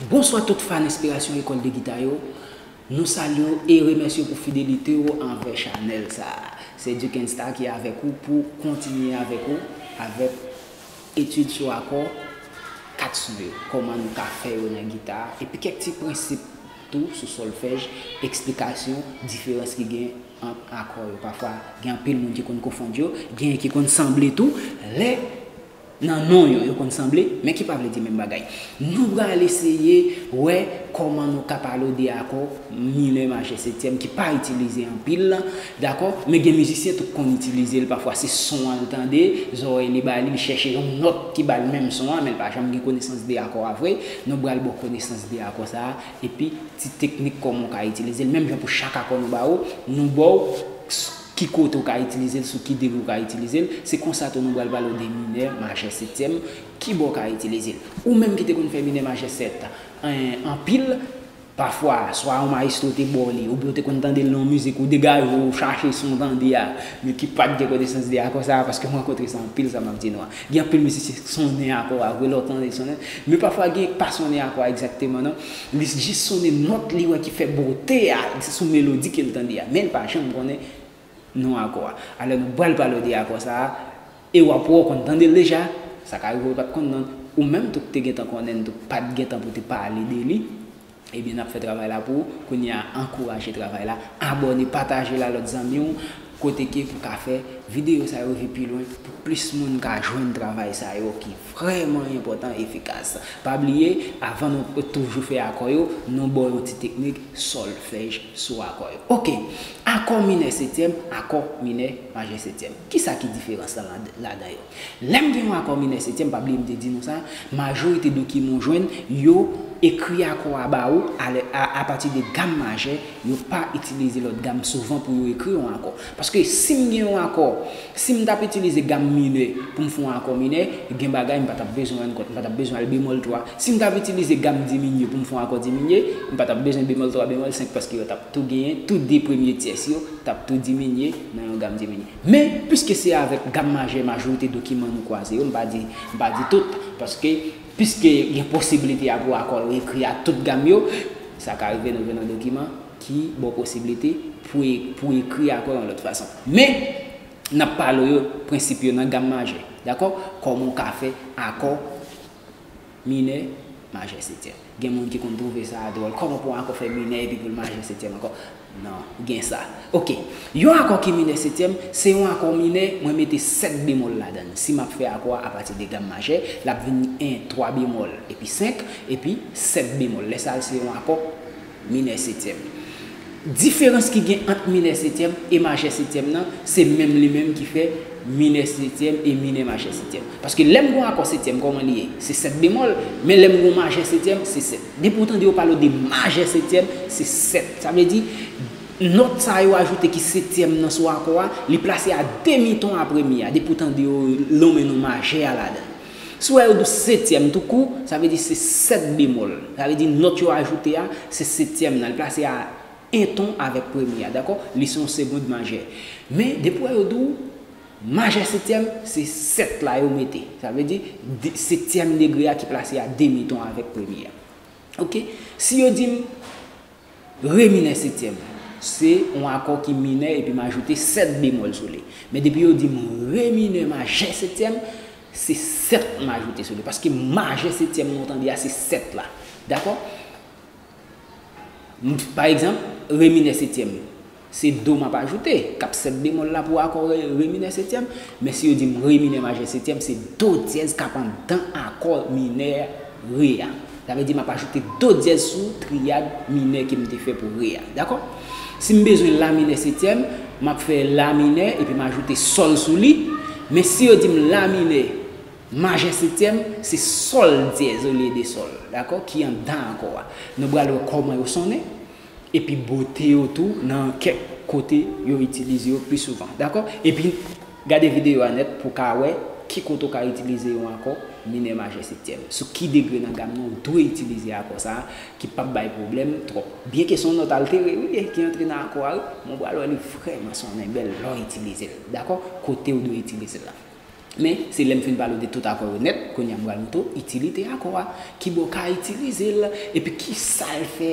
Bonswa tout fan enspirasyon lekòl de gita yo, nou salye w e remèsye w pou fidelite w anvè chanèl sa a. Se Duckenstar ki avèk ou pou kontinye avèk ou avèk etid sou akò 4 son yo, kòman nou ka fè yo nan gita epi kèk ti prensip tou sou sòlfèj, eksplikasyon diferans ki gen ant akò yo, pafwa gen anpil moun ki konn konfond yo, genyen ki konn sanble tou lè Nan non yo, yo konn sanble, men ki pa vle di menm bagay. Nou pral eseye wè kòman nou ka pale w de akò minè majè setyèm ki pa itilize anpil lan, dakò, men gen mizisyen tou k konn itilize l pafwa, se son an l tande, zòrèy li ba li, li chèche yon nòt ki ba l menm son an, men l pa janm gen konesans de akò a vre. Nou pral ba w konesans de akò sa a, epi ti teknik kòman w ka itilize l, menm jan pou chak akò nou ba ou, nou ba w. Ki kote ou ka itilize l, sou ki degre ou ka itilize l. Se konsa tou nou pral pale w de minè majè setyèm, ki bò w ka itilize l. Ou menm ki te konn fè minè majè sèt an anpil, pafwa swa yon mayestwo te ba w li oubyen ou te konn tande l nan yon mizik ou degaje w ou chache son w tande a men ki pa t gen konesans de akò sa a paske m rankontre sa anpil sa m ap di nou an. Gen anpil mizisyen ki sonnen akò a vre lè w tande l sonnen men pafwa gen pa sonnen akò a egzakteman non. Li jis sonnen nòt li wè ki fè bote a, se sou melodi ke l tande a, men l pa janm konnen non akò a. Alò nou pral pale w de akò sa a, e w ap wè w konn tande l deja, sa ka rive w pa t konn non, ou menm tou k te gentan konnen l tou k pa t gentan pou te pale de li, ebyen n ap fè travay la pou ou, kounye a ankouraje travay la, abòne, pataje l a lòt zanmi w. Kote kev ou ka fè video sa yo vi pi lwen pou plis moun ka jwenn travay sa yo ki vrèman enpòtan efikas pa bliye avan nou toujou fè akò yo nou baw yon ti teknik sòlfèj sou akò yo ok akò minè setyèm akò minè majè setyèm kisa ki diferans la ladan yo. Lè m gen yon akò minè setyèm, pa bliye m te di nou sa, majorite dokiman w jwenn, yo ekri akò a ba ou alè a apati de gam majè, yo pa itilize lòt gam souvan pou yo ekri yon akò. Paske si m gen yon akò, si m t ap itilize gam minè pou m fè yon akò minè, gen bagay m pa t ap bezwen rann kont, m pa t ap bezwen al bemòl 3. Si m t ap itilize gam diminye pou m fè yon akò diminye, m pa t ap bezwen bemòl 3, bemòl 5 paske yo t ap tou genyen, tou de premye tyès yo t ap tou diminye nan yon gam diminye. Men, piske se avèk gam majè majorite dokiman nou kwaze yo, m pa di, m pa di tout, paske, piske gen posibilite a pou akò yo ekri a tout gam yo, sa ka rive nou jwenn yon dokiman ki ba w posibilite pou pou ekri akò yon lòt fason. Men, n ap pale w yo, prensip yo nan gam majè. Dakò? Kòman w ka fè akò. Minè, majè setyèm. Gen moun ki konn twouve sa a dwòl. Kòman pou yon akò fè minè epi pou l majè setyèm ankò? Non, gen sa. Oke. Yon akò ki minè setyèm, se yon akò minè, mwen mete sèt bemòl ladan l. Si m ap fè akò a apati de gam majè, l ap vini 1, twa bemòl, epi 5, epi sèt bemòl. Lè sa a l se yon akò. Minè setyèm. Diferans ki gen ant minè setyèm e majè setyèm nan, se menm li menm ki fè minè setyèm e minè majè setyèm. Paske lè m gen yon akò setyèm, kòman li ye? Se sèt bemòl, men lè m gen yon majè setyèm, se sèt. Depi ou tande yo pale w de majè setyèm, se sèt. Sa vle di, nòt sa yo ajoute ki setyèm nan sou akò a, li plase a demi ton apre mi a. Depi ou tande yo lonmen non majè a ladan. Si w wè yo dous setyèm tou kou, sa vle di se sèt bemòl. Sa vle di nòt yo ajoute a, se setyèm nan, li plase a 1 ton avèk premye a, dakò? Li se yon segond majè. Men, depi w wè yo di w majè setyèm, se 7 la yo mete. Sa vle di, setyèm degre a ki plase a demi ton avèk premye a. Ok? Si yo di m. Re minè setyèm, se yon akò ki minè epi m ajoute 7 bemòl sou li. Men depi yo di m re minè majè setyèm, se 7 m ajoute sou li. Paske majè setyèm nan w tande a se 7 la. Dakò? Pa egzanp, re minè setyèm. Se do m ap ajoute, k ap sèt bemòl la pou akò re, re minè setyèm. Men si yo di m re minè majè setyèm, se do dyèz k ap anndan akò minè re a. Sa vle di m ap ajoute do dyèz sou triyad minè ke m te fè pou re a. Dakò? Si m bezwen la minè setyèm, m ap fè la minè epi m ajoute sòl sou li. Men si yo di m la minè majè setyèm, se sòl dyèz olye de sòl, dakò, ki anndan akò a. Nou pral wè kòman yo sonnen. Epi bote yo tou nan kèk kote yo itilize yo pi souvan. Dakò? Epi gade videyo a nèt pou w ka wè ki kote ou ka itilize yon akò minè majè septyèm. Sou ki degre nan gam nan ou dwe itilize akò sa a ki pap bay pwoblèm twòp. Byenke se yon nòt altere wi li ki antre nan akò a wi, men ou pral wè li vrèman sonnen bèl lè w itilize l. Dakò? Kote ou dwe itilize l la. Men, se lè m fin pale w de tout akò yo nèt, kounye a m pral montre w itilite akò a, ki bò w ka itilize l, epi ki sa l fè,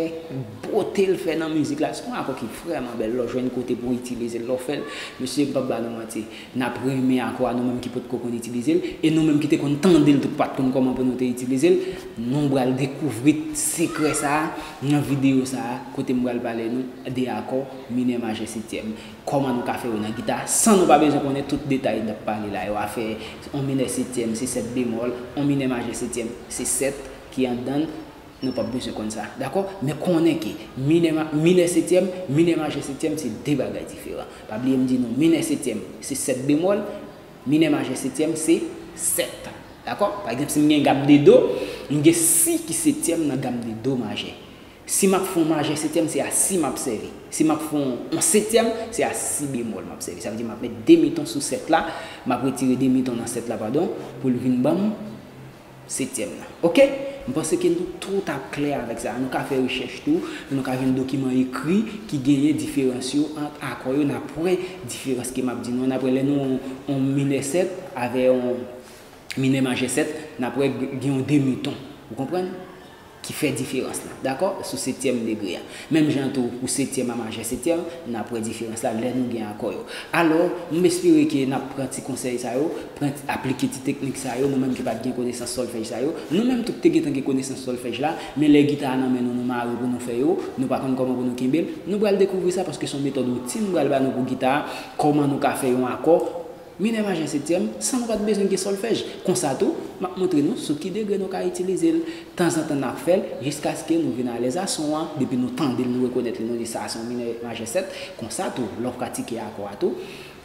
bote l fè nan mizik la. Se yon akò ki vrèman bèl lè w jwenn kote pou w itilize l, lè w fè l. Mesye, m p ap ba nou manti, n ap renmen akò a nou menm ki potko konn itilize l, e nou menm ki te konn tande l tou k pa t konn kòman pou nou te itilize l. Nou pral dekouvri sekrè sa a nan videyo sa a kote m pral pale nou de akò minè majè setyèm. Kòman nou ka fè yo nan gita san nou pa bezwen konnen tout detay n ap pale la yo, afè on minè setyèm se sèt bemòl, on minè majè setyèm se sèt ki anndan l, nou p ap bezwen konn sa, dakò? Men konnen ke minè ma, minè setyèm, minè majè setyèm se de bagay diferan. Pa bliye m di nou minè setyèm se sèt bemòl, minè majè setyèm se sèt, dakò? Pa egzanp si m gen gam de do, m gen si ki setyèm nan gam de do majè. Si map fè yon majè setyèm se a si map sèvi. Si map fè yon setyèm se a si bemòl map sèvi. Sa vle di map met demiton sou 7 la, map retire demiton nan 7 la padon pou l vin banm setyèm nan. Ok? M panse ke nou tout ap klè avèk sa a. Nou ka fè rechèch tou, nou ka jwenn dokiman ekri ki genyen diferans yo ant akò yo nap wè diferans ke map di nou an. Nap wè lè nou wè yon minè 7 avè yon minè majè 7, nap wè gen yon demiton. Ou konprann? ki fè diferans la. Dakò? Sou setyèm degre a. Menm jan tou, pou setyèm a majè setyèm, n ap wè diferans la lè nou gen akò yo. Alò, m espere ke n ap pran ti konsèy sa yo, pran ti, aplike ti teknik sa yo, nou menm ki pa t gen konesans sòlfèj sa yo. Nou menm tout te gentan gen konesans sòlfèj la, men lè gita a nan men nou, nou mare pou nou fè yo, nou pa konn kòman pou nou kenbe l. Nou pral dekouvri sa, paske se yon metòd woutin m pral ba nou pou gita a, kòman nou ka fè yon akò, Minè maje setyèm, san nou pa t bezwen gen sòlfèj. Konsa tou, m ap montre nou sou ki degre nou ka itilize l. Tanzantan n ap fè l, jiskaske nou vin alèz a son an, depi nou tande l nou rekonèt li, nou di sa a se yon minè majè sèt. Konsa tou, lè w pratike akò a tou,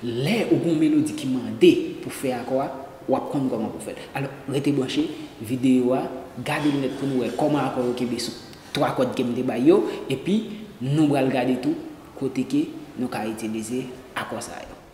lè ou gen yon melodi ki mande pou fè akò a, w ap konn kòman pou w fè l. Alò, rete branche, videyo a, gade l nèt pou nou wè kòman akò yo kenbe sou twa kòd ke m te bay yo, epi nou pral gade tou kote ke nou ka itilize akò sa yo.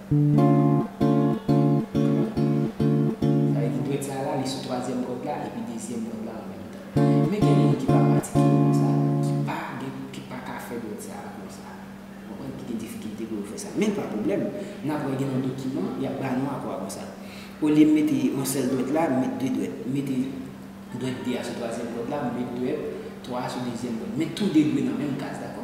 Sa vle di dwèt sa la li sou twazyèm kòd la epi dezyèm kòd la an menm tan. Men gen moun ki pa pratike yo konsa, ki pa gen, ki pa ka fè dwèt sa a konsa. Ou konprann? Ki gen difikilte pou yo fè sa. Men pa pwoblèm, n ap wè gen yon dokiman, y ap ba nou apwa konsa. Olye m mete yon sèl dwèt la, m met de dwèt. M mete dwèt 2 a sou twazyèm kòd la, m met dwèt 3 a sou dezyèm kòd. Men tou de dwe nan menm kaz, dakò?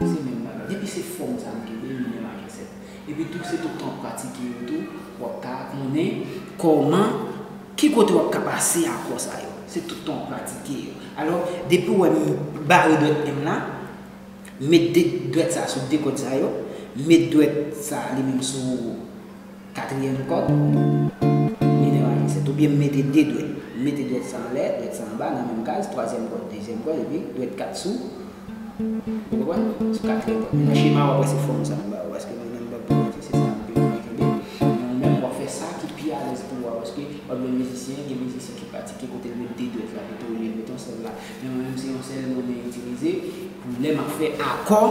Se menm bagay. Depi se fòm sa nou kenbe, nou menm ak ensèk. Epi tou, se tout tan w ap pratike yo tou, w ap ka konnen kòman, ki kote w ap ka pase akò sa yo. Se tout tan w ap pratike yo. Alò, depi w wè m bare dwèt men m la, met de dwèt sa a sou de kòd sa yo, met dwèt sa a li menm sou. Katriyèm kòd, minè majè 7. Oubyen m mete 2 dwèt. M mete dwèt sa anlè, dwèt sa anba nan menm kaz, twazyèm kòd, dezyèm kòd epi dwèt 4 sou, ou konprann? Sou katriyèm kòd. Men nan chema a w ap wè se fòm sa m ba ou paske mwen menm m p ap pwogrese se sa anpil moun ap kenbe. Men ou menm w ap fè sa ki pi alèz pou ou a paske w ap jwenn mizisyen, gen mizisyen ki pratike kote l met 2 dwèt la pito olye l met yon sèl la. Men mwen menm se yon sèl mwen itilize pou lè m ap fè akò.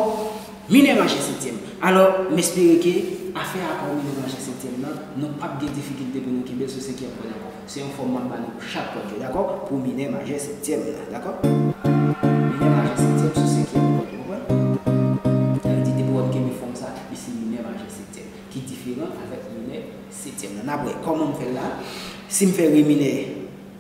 Mine rache setyèm. Alò, m espere ke afè akò mine rache setyèm nan, nou p ap gen difikilte pou nou kenbe l sou senkyèm kòd ankò. Se yon fòm m ap ba nou pou chak kòd yo, dakò? Pou mine majè setyèm nan, dakò? Mine majè setyèm sou senkyèm kòd, ou konprann? Sa vle di, depi w ap kenbe fòm sa a, li se mine majè setyèm, ki diferan avèk mine setyèm nan. N ap wè kòman m fè l la. Si m fè re minè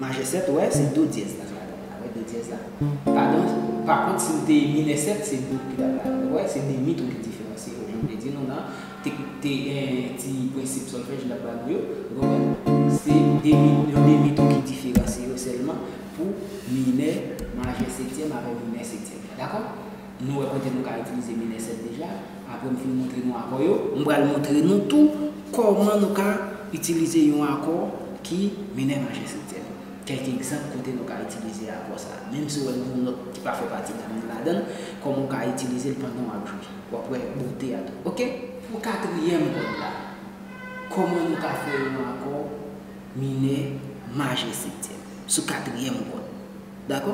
Majè 7 wè se do dyèz la fè akòd la wè do dyèz la padon pa kont si w te minè 7 se do ki tap la ou wè se demi ton ki diferansye yo jan m te di nou nan te te gen ti prensip sòlfèj m tap ba nou yo ou konprann se demi yon demi ton ki diferansye yo sèlman pou minè majè setyèm avè minè setyèm dakò. Nou wè kote nou ka itilize mil ensèt deja, apre m fin montre nou akò yo, m pral montre nou tou kòman nou ka itilize yon akò ki minè majè septyèm. Kèk egzanp kote nou ka itilize akò sa, menm si w wè gen yon nòt ki pa fè pati gam nan ladan l, kòman w ka itilize l pandan w ap jwe. W ap wè bonte a tou. Ok. Pou katriyèm kòd la, kòman nou ka fè yon akò minè majè septyèm sou katriyèm kòd? Dakò?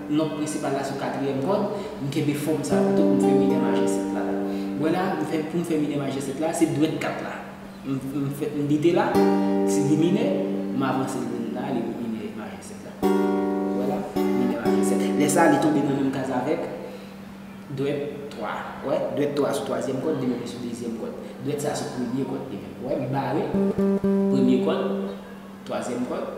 Nòt prensipal la sou katriyèm kòd, m kenbe fòm sa pito pou m fè minè majè 7 la. Ou wè la, m fè, pou m fè minè majè 7 la, se dwèt 4 la. M fè, m bite la, si li minè, m avanse l vin la, li vin minè majè 7 la. Ou wè la, minè majè 7. Lè sa, li tonbe nan menm kaz avèk dwèt 3. Ou wè, dwèt 3 sou twazyèm kòd, li menm li sou dezyèm kòd. Dwèt sa sou premye kòd li menm. Ou wè, m bare, premye kòd, twazyèm kòd.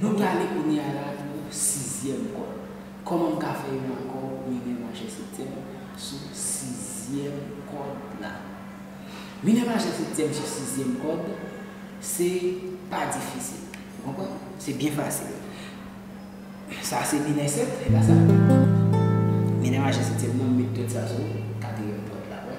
Nou prale kounye a la pou sizyèm kòd. Kòman m ka fè yon akò minè majè septyèm sou sizyèm kòd la? Minè majè septyèm sou sizyèm kòd, se pa difisil. Ou konprann? Se byen fasil. Sa se minè sèt, e pa sa. Minè majè septyèm nan, m met dòt sa sou katriyèm kòd la, wè.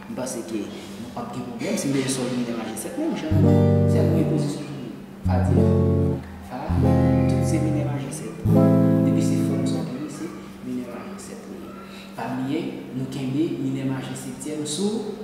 M panse ke nou pap gen pwoblèm si m mete sol minè majè 7 menm jan an. Fè mwen yon pozisyon pou mwen. Fa dyèz. Fa, tout se minè majè 7. Depi se fòm sa w gen li se minè majè 7 li ye. Pa bliye nou kenbe minè majè septyèm sou.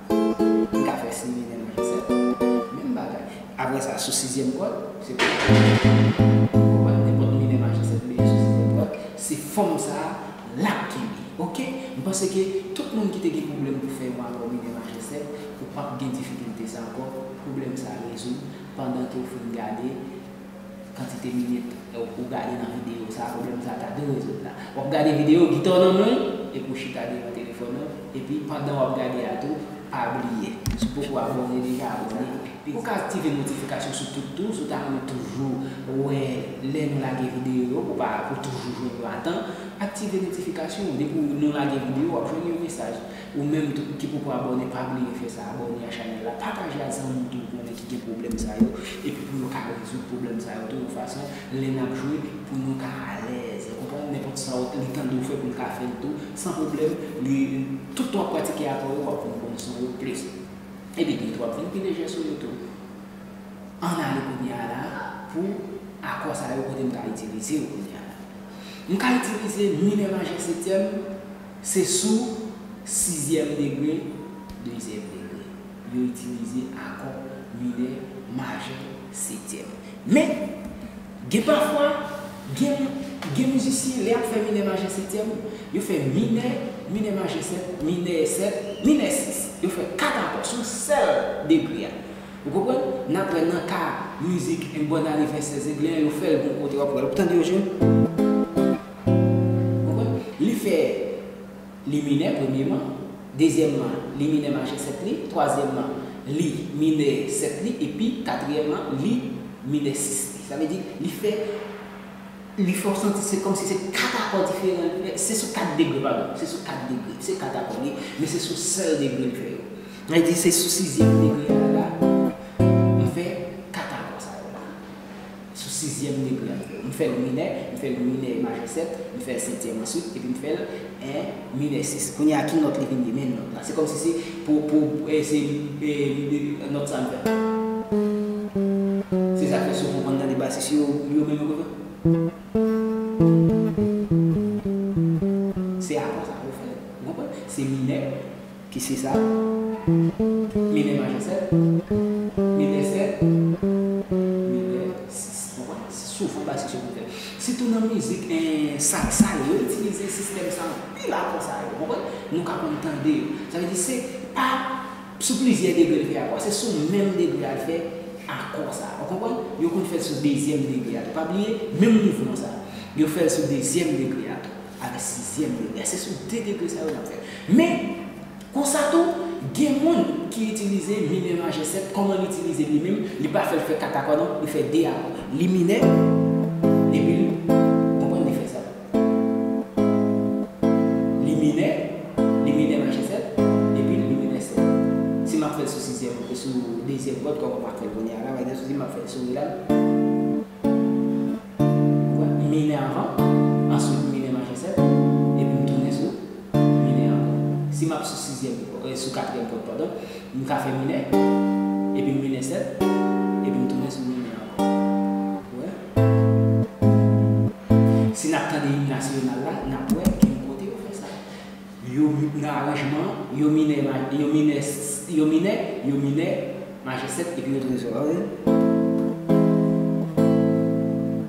M ka fè si menm jan Joseph. Menm bagay. Aprè sa, sou sizyèm kòd, se pou m fè konprann nenpòt minè majè sèt meyè sou sizyèm kòd, se fòm sa a l ap kenbe. Ok? M panse ke tout moun ki te gen pwoblèm pou fè yon akò minè majè sèt, ou p ap gen difikilte sa ankò, pwoblèm sa a rezoud pandan ke ou fin gade. kantite minit ou gade nan videyo sa pwoblèm sa ta dwe rezoud la wap gade videyo gita w nan men w epi w chita devan telefòn ou epi pandan wap gade a tou pa bliye si w poko abòne deja abòne epi ou ka aktive notifikasyon sou tout tou si w ta renmen toujou wè lè nou lage videyo yo pou w toujou jwenn yo atan aktive notifikasyon depi nou lage videyo wap jwenn yon mesaj. Ou menm tou ki poko abòne pa bliye fè sa abòne a chanèl la pataje ak zanmi w tou ou konnen ki gen pwoblèm sa yo epi pou yo ka rezoud pwoblèm sa yo tou yon fason lè nap jwe pou nou ka alèz ou konprann nenpòt sa w li tande w fè pou l ka fè l tou san pwoblèm li tout tan wap pratike akò yo wap konn konn son yo plis epi bit wap vin pi lejè sou yo tou ann ale kounye a la pou akò sa yo kote m ka itilize yo kounye a la m ka itilize minè majè setyèm. Se sou sizyèm degre, dezyèm degre, yo itilize akò minè majè setyèm. Men, gen pafwa, gen gen mizisyen lè y ap fè minè majè setyèm, yo fè minè, minè majè sèt, minè sèt, minè sis. Yo fè kat akò sou sèl degre a. Ou konprann? N ap wè nan ka mizik Une bonne année Vincent Zenglen an, yo fè l gon kote w ap wè l. Ou tande yo jwe l? Konprann? Li fè li minè premyeman, dezyèmman li minè majè 7 li, twazyèmman li minè 7 li epi katriyèmman li minè 6 li. Sa vle di li fè li fè w santi se kòmsi se 4 akò diferan li fè, se sou 4 degre padon, se sou 4 degre, se 4 akò li ye, men se sou sèl degre li fè yo. Sa vle di se sou sizyèm degre a la li fè 4 akò sa yo la. Sou sizyèm degre a. M fè l minè, m fè l minè majè 7, m fè l setyèm answit, epi m fè l en minè 6. Kounye a ki nòt li vin ye? Menm nòt la. Se kòmsi se pou, pou, e se e nòt sa m fè. Se sa k fè souvan ou konn tande basis yo, yo menm yo konn fè. Se akò sa yo fè. Ou konprann? Se minè. Ki se sa? Minè majè 7, minè 7, minè 6. Ou konprann? Se souvan basis yo konn fè. Sitou nan mizik salsa yo, yo itilize sistèm sa anpil akò sa yo. Ou konprann? Nou ka konn tande yo. Sa vle di se pa sou plizyè degre l fè akò a, se sou menm degre a l fè akò sa. Ou konprann? Yo konn fè l sou dezyèm degre a tou. Pa bliye, menm mouvman sa, yo fè l sou dezyèm degre a tou. Avè sizyèm yo. E se sou 2 degre sa yo n ap fè. Men, konsa tou, gen moun ki itilize minè majè 7. Kòman l itilize l li menm? Li pa fè l fè 4 akò non. Li fè 2 akò. Li minè, epi l. Konprann li fè sa. Li minè, li minè majè 7, epi l li minè 7. Si m ap fè l sou sizyèm, sou dezyèm kòd, kòman m ap fè l kounye a la? M ap fè l sou re la. Minè anvan, answit m minè majè 7, epi m tounen sou minè ankò. Si m ap sou sizyèm, sou katriyèm kòd padon, m ka fè minè, epi m minè 7, epi m tounen sou minè ankò. Ou wè? Si n ap tande im nasyonal la, n ap wè gen kote yo fè sa. Yo nan aranjman, yo minè ma, yo minè s, yo minè, yo minè majè 7 epi yo trezò an ri.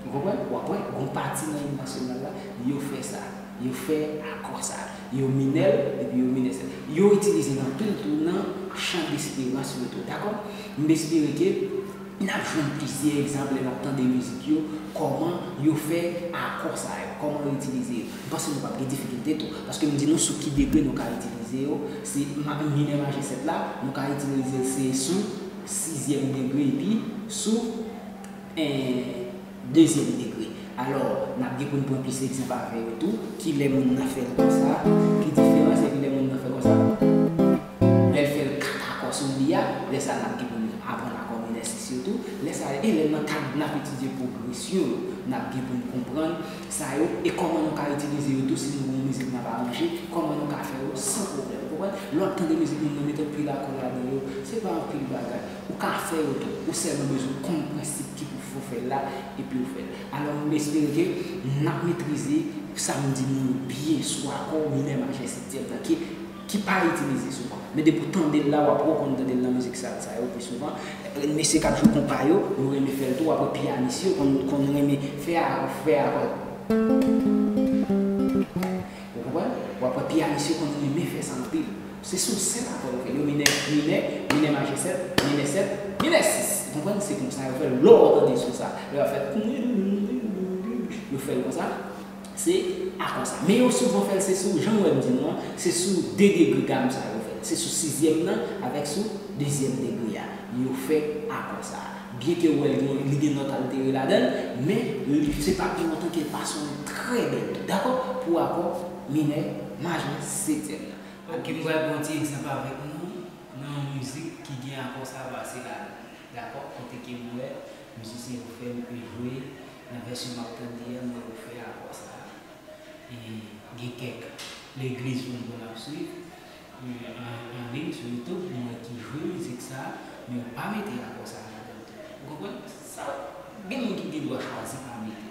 Ou konprann? W ap wè gon pati nan im nasyonal la, yo fè sa. Yo fè akò sa. Yo minè l epi yo minè 7. Yo itilize l anpil tou nan chan desperans yo tou. Dakò? M espere ke. N ap jwenn plizyè egzanp lè n ap tande mizik yo, kòman yo fè akò sa yo, kòman yo itilize yo. M panse nou p ap gen difikilte tou, paske m di nou sou ki degre nou ka itilize yo, se minè majè 7 la, nou ka itilize l se sou sizyèm degre epi sou. Dezyèm degre. Alò, n ap gen pou n pran plis egzanp avè yo tou. Ki lè moun nan fè l konsa, ki diferans epi lè moun nan fè l konsa. Lè l fè l kat akò sou li a, lè sa a n ap gen pou n aprann akò minè sis yo tou. Lè sa a, e lè nan kad n ap etidye pwogresyon yo, n ap gen pou n konprann sa yo e kòman nou ka itilize yo tou si nou gen yon mizik n ap aranje, kòman nou ka fè yo san pwoblèm. Ou konprann? Lè w ap tande mizik moun nan, metòd pil akò l a gen yo, se pa anpil bagay. Ou ka fè yo tou. Ou sèlman bezwen konn prensip ki pou fè w fè l la epi w fè l. Alò m espere ke n ap metrize sa m di nou yo byen sou akò minè majè septyèm nan ki ki pa itilize souvan. Men depi w tande l la w ap rekonn tande l nan mizik sal sa yo pi souvan. Mesye k ap jwe konpa yo, yo renmen fè l tou apre pyanis yo konn konn renmen fè a fè a konn. Ou konprann? Ou apre pyanis yo konn renmen fè sa anpil. Se sou sèt akòd ke yo minè, minè, minè majè sèt, minè sèt, minè sis. Ou konprann? Se konsa yo fè l. Lò ou tande son sa, lè y ap fè ttnnnnnnnnnnnnnnn, yo fè l konsa, se akò sa. Men yo souvan fè l se sou, jan ou wè m di nou an, se sou de degre gam sa yo fè l. Se sou sizyèm nan avèk sou dezyèm degre a yo fè akò sa. Byen ke ou wè l gen yon, li gen nòt altere ladan l, men li, se pa pi lontan ke l pa sonnen trè bèl tou. Dakò? Pou akò minè majè setyèm nan. Ok m pral pran ti egzanp avèk nou nan yon mizik ki gen akò savasy ladan dakò kote ke m wè mizisyen yo fè yo te jwe nan vèsyon map tande an m wè yo fè akò sa e gen kèk legliz mwen konn ap swiv an liy sou youtube m wè ki jwe mizik sa men yo pa mete akò sa ladan tou ou konprann sa gen moun ki gen dwa chwazi pa mete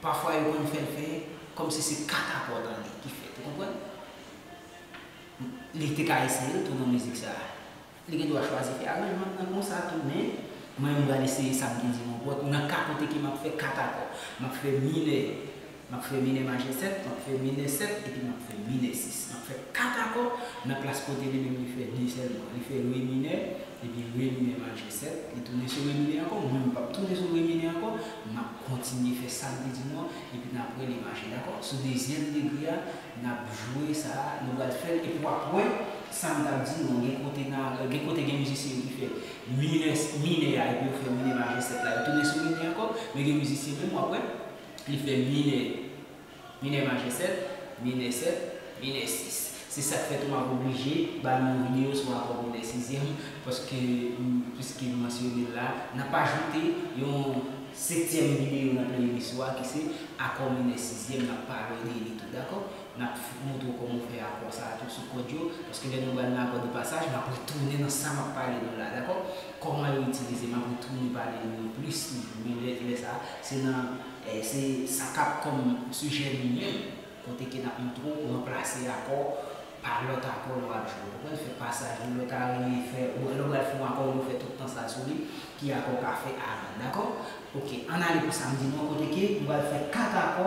Pafwa yo konn fèl fè kòmsi se katapòt an li ki fèt ou konprann? Li te ka eseyel tou nan mizik sa. Li gen dwa chwazi fè aranjman nan konsa tou men mwen menm pral eseye sam gen di monpòt nan ka kote ke map fè katakò. Map fè minè, map fè minè majè 7, map fè minè 7 epi map fè minè 6. Map fè katakò nan plas kote li menm li fè 2 sèlman. Li fè re minè epi re minè majè. 7, li tounen sou Remine ankò, mwen menm pap tounen sou Remine ankò, map kontinye fè sam te di nou an, epi napre li mache dakò, sou dezyèm degre a nap jwe sa a, nou pral fèl epi wap wè sam tap di nou an gen kote na gen kote gen mizisyen ki fè minè minè a epi yo fè minè majè 7 la yo tounen sou Rene ankò, men gen mizisyen menm wap wè li fè minè. Minè majè 7, minè 7, minè 6. Se sak fè tou map oblije ba nou yon video sou akò minè sizyèm paske piske m mansyone l la, nap ajoute yon setyèm video nan playlist ou a ki se akò minè sizyèm nap pale de li tou dakò, nap montre w kòman w fè akò sa a tou sou kòd yo paske lè nou bal nan akò de pasaj map retounen nan sa map pale nou la dakò, kòman yo itilize map retounen pale nou yo plis toujou men lè sa se nan. Se sa k ap kòm sijè nou menm, kote ke n ap montre w ranplase akò pa lòt akò lè w ap jwe. Ou konprann? Fè pasaj ou lè w ta renmen fè, lè w pral fè yon akò ou fè tout tan sa sou li, ki akò w ka fè avan. Dakò? Ok, ann ale pou sa m di nou an kote ke nou pral fè kat akò.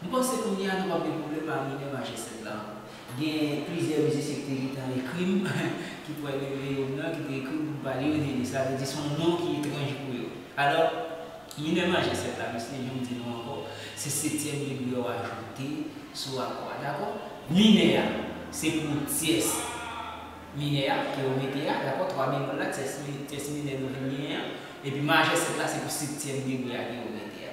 M panse kounye a nou pap gen pwoblèm pa Mineure Majestic la ankò. Gen plizyè mizisyen ki te gentan ekri m, ki pwal gen Leone nan ki te ekri m pou m pa Leone li, sa vle di son non ki etranj pou yo. Alò, Mineure Majestic la mesye jan m di nou ankò, se setyèm degre yo ajoute sou akò a, dakò? Minè a, se pou tyès minè a ke yo mete a, dakò, twa bemòl la, tyès minè nou vin genyen an, epi majèstik la se pou septyèm degre a ke yo mete a.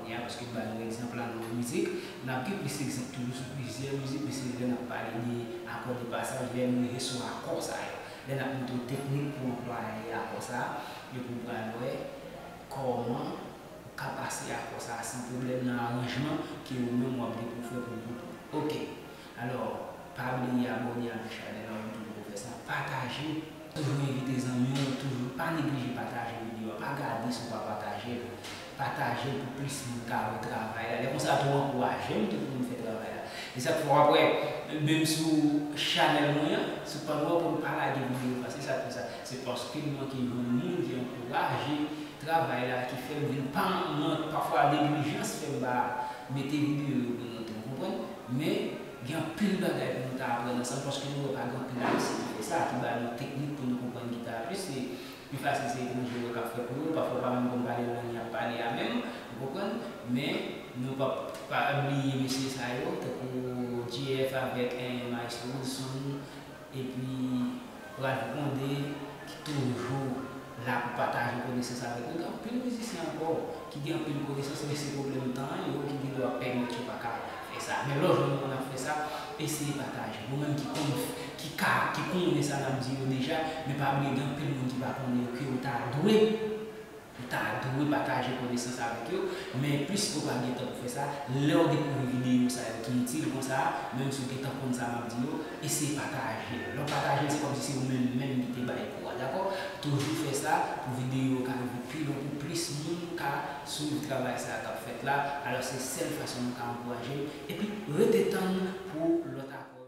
Kounye a, paske m ba nou egzanp la nan yon mizik, n ap gen plis egzanp toujou sou plizyè mizik, men se lè n ap pale de akò de pasaj, lè n rive sou akò sa yo, lè n ap montre w teknik pou w anplwaye akò sa a, epi w pral wè kòman ou ka pase akò sa a san pwoblèm nan aranjman ke ou menm w ap gen pou w fè pou gwoup ou. Ok. Alò pa bliye abone avk chanel an tou pouw fè sa, pataje, toujou envite zanmiw yo, toujou pa neglije pataje video a, pa gade si w pa patajel, patajel pou plis moun ka wè travay la, lè konsa tou ankourajem tou poum fè travay la, e sak fè wap wè menm sou chanel mwen an, sou pàn wè poum pa lage video pase sa pou sa, se paskem manke jwenn moun ki ankouraje travay la, ki fèm vin pa mwen pafwa neglijans fèm pa mete video yo pou nou tou, ou konprann. Men, gen anpil bagay pou nou ta aprann ansanm paske nou wè pa gen anpil Ayisyen ki fè sa, ki ba nou teknik pou nou konprann gita a plis. Li pi fasil se Bondye wè k ap fè pou nou. Pafwa ou pa menm konn pale lang y ap pale a menm, ou konprann. Men, nou pap pa bliye mesye sa yo, tankou JF avèk Maestro Woodson. Epi Ralph Condé ki toujou la pou pataje konesans avèk nou. Gen anpil mizisyen ankò ki gen anpil konesans men se pwoblèm tan an yo ki gendwa pèmèt yo pa ka fè sa. Men lò jwenn moun ap fè sa, eseye pataje. Ou menm ki konn, ki ka, ki konnen sa n ap di yo deja, men pa bliye gen anpil moun ki pa konnen yo ke ou ta dwe Ou ta dwe pataje konesans avèk yo, men plis ou pa gen tan pou fè sa, lèw dekouvri videyo sa yo ki itil konsa, menm si ou gentan konn sa map di yo, eseye patajel. Lèw patajel se kòmsi se ou menm menm ki te bay kou a dakò. Toujou fè sa pou videyo yo ka rive pi lwen pou plis moun ka swiv travay sa kap fèt la, alò se sèl fason nou ka ankourajem, epi rete tann pou lòt apòch.